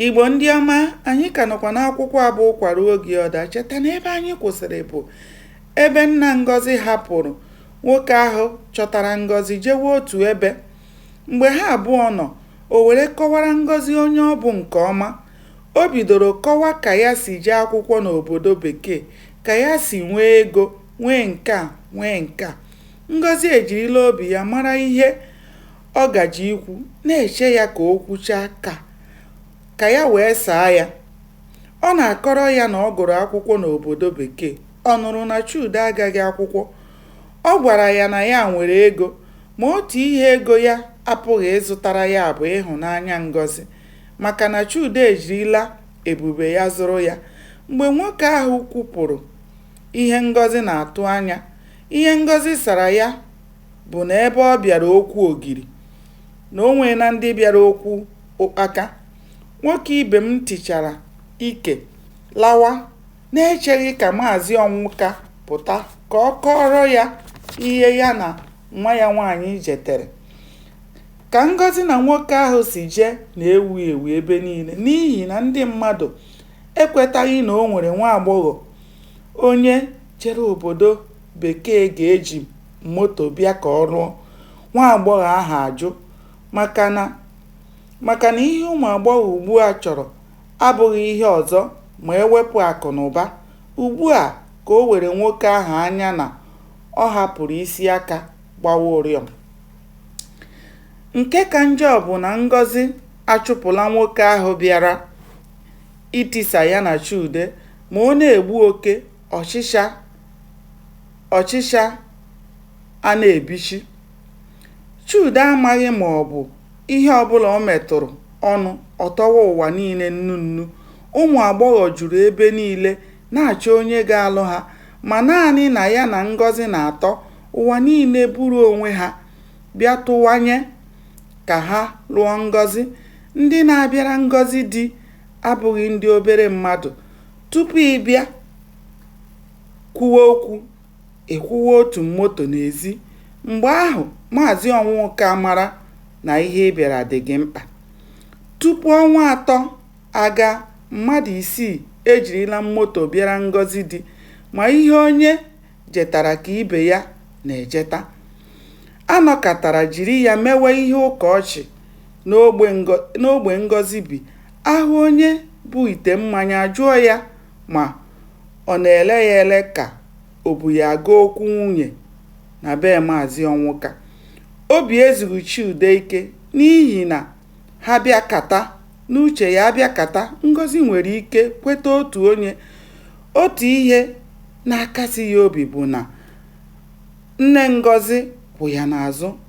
Igbo ndị ọma, anyị ka nọkwa n'akwụkwọ a bụ Ụkwa Ruo Oge Ọ Daa. Cheta na ebe anyị kwụsịrị bụ ebe nna Ngozi hapụrụ nwoke ahụ chọtara Ngozi jewe otu ebe. Mgbe ha abụọ nọ, o were kọwara Ngozi onye ọ bụ nke ọma. O bidoro kọwa ka ya si jee akwụkwọ n'obodo bekee, ka ya si nwee ego, nwee nke a, nwee nke a. Ngozi ejirila obi ya mara ihe ọ gaje ikwu, na-eche ya ka o kwuchaa ka ka ya wee saa ya. Ọ na-akọrọ ya na ọ gụrụ akwụkwọ n'obodo Bekee. Ọ nụrụ na Chude agaghị akwụkwọ. Ọ gwara ya na ya nwere ego, ma otu ihe ego ya apụghị ịzụtara ya bụ ịhụnanya Ngozi, maka na Chude ejirila ebube ya zụrụ ya. Mgbe nwoke ahụ kwupụrụ ihe Ngozi na-atụ anya, ihe Ngozi sara ya bụ na ebe ọ bịara okwu ogiri na o nweela ndị bịara okwu ụkpaka nwoke ibe m tichara ike lawa na-echeghị ka maazị ọnwụka pụta ka ọ kọọrọ ya ihe ya na nwa ya nwaanyị jetere ka ngozi na nwoke ahụ si jee na-ewu ewu ebe niile n'ihi na ndị mmadụ ekwetaghị na o nwere nwa agbọghọ onye jere obodo bekee ga-eji moto bịa ka ọ lụọ, nwa agbọghọ ahụ ajụ maka na ihe ụmụ agbọghọ ugbu a chọrọ abụghị ihe ọzọ ma e wepụ akụ na ụba. Ugbu a ka o were nwoke ahụ anya na ọ hapụrụ isi aka gbawa ụrịọm. Nke ka njọ bụ na Ngozi achụpụla nwoke ahụ bịara itisa ya na Chude ma ọ na-egbu oke ọchịcha a na-ebichi Chude amaghị ma ọ bụ ihe ọbụla o metụrụ ọnụ ọ tọwa ụwa niile nnu nnu ụmụ agbọghọ juru ebe niile na-achọ onye ga-alụ ha ma naanị na ya na Ngozi na-atọ ụwa niile buru onwe ha bịa tụwanye ka ha lụọ Ngozi ndị na-abịara Ngozi di abụghị ndị obere mmadụ Tupu ị bịa kwuwe okwu, ị kwụwa otu moto n'ezi. Mgbe ahụ, Maazị Ọnwụka mara na ihe ị bịara dị gị mkpa. Tupu ọnwa atọ agaa, mmadụ isii ejirila moto bịara Ngọzi di. Ma ihe onye jetara ka ibe ya na-ejeta. A nọkatara jiri ya mewe ihe ụka ọchị n'ogbe Ngọzi bi, a hụ onye bu ite mmanya a jụọ ya ma ọ na-ele ya ele ka o bu ya aga okwu nwunye na be Maazị Ọnwụka. Obi ezughị Chude ike n'ihi na ha bịakata, n'uche ya abịakata, Ngọzi nwere ike kweta otu onye. Otu ihe na-akasi ya obi bụ na nne Ngọzi kwụ ya n'azụ.